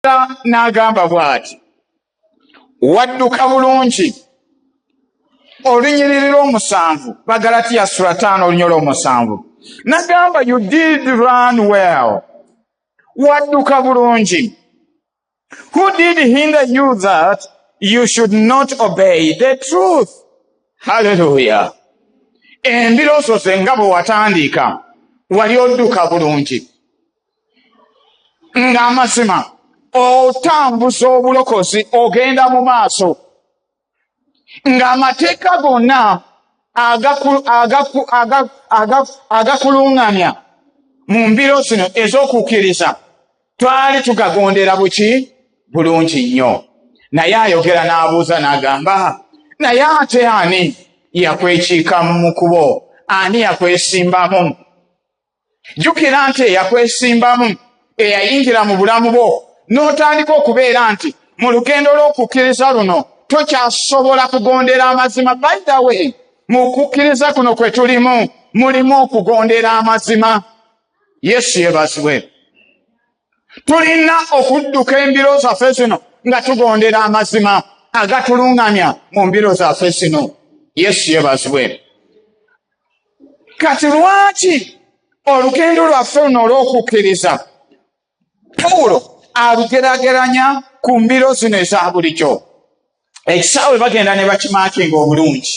Katonda n'agamba bw'ati, wadduka bulungi olunyiriri lw'omusanvu bagalatiya sula taano olunya olw'omusanvu nagamba you did run well wadduka bulungi who did hinder you that you should not obey the truth halleluya embiroosoze nga bwe watandiika wali odduka bulungi ng'amazima otambuza obulokozi ogenda mu maaso ng'amateeka gonna agakuluŋŋamya mu mbiro zino ez'okukkiriza twali tugagondera buki bulungi nnyo naye ayogera n'abuuza n'agamba naye ate ani yakwekiikamu mu kubo ani yakwesimbamu jjukira nti eyakwesimbamu eyayingira mu bulamu bwo n'otandika okubeera nti mu lugendo lw'okukkiriza luno tokyasobola kugondera amazima by the way mu kukkiriza kuno kwe tulimu mulimu okugondera amazima yesu yebazibwe tulina okudduka embiro zaffe zino nga tugondera amazima agatuluŋŋamya mu mbiro zaffe zino yesu yebazibwe kati lwaki olugendo lwaffe luno olw'okukkiriza pawulo alugerageranya ku mbiro zino eza bulijjo ekisaawe bagenda ne bakimaakinga obulungi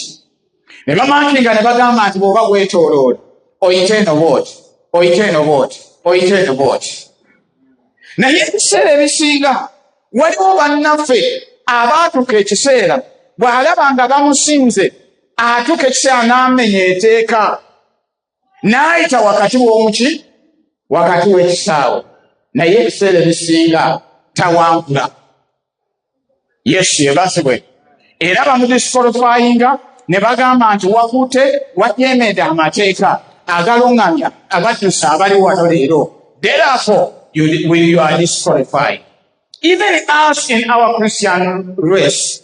ne bamaakinga ne bagamba nti bw'oba weetooloola oyite eno bwoti oyite eno bwoti oyite eno bwoti naye ebiseera ebisinga waliwo bannaffe abaatuka ekiseera bw'alaba nga bamusinze atuka ekiseera n'amenya eteeka n'ayita wakati w'omuki wakati w'ekisaawe naye ebiseera ebisinga tawankula yesu yebazibwe era bamudisikolofayinga ne bagamba nti wakute wajemede amateeka agalungamya abaddusa abali wano leero therefore you, you are disqualified even us in our christian race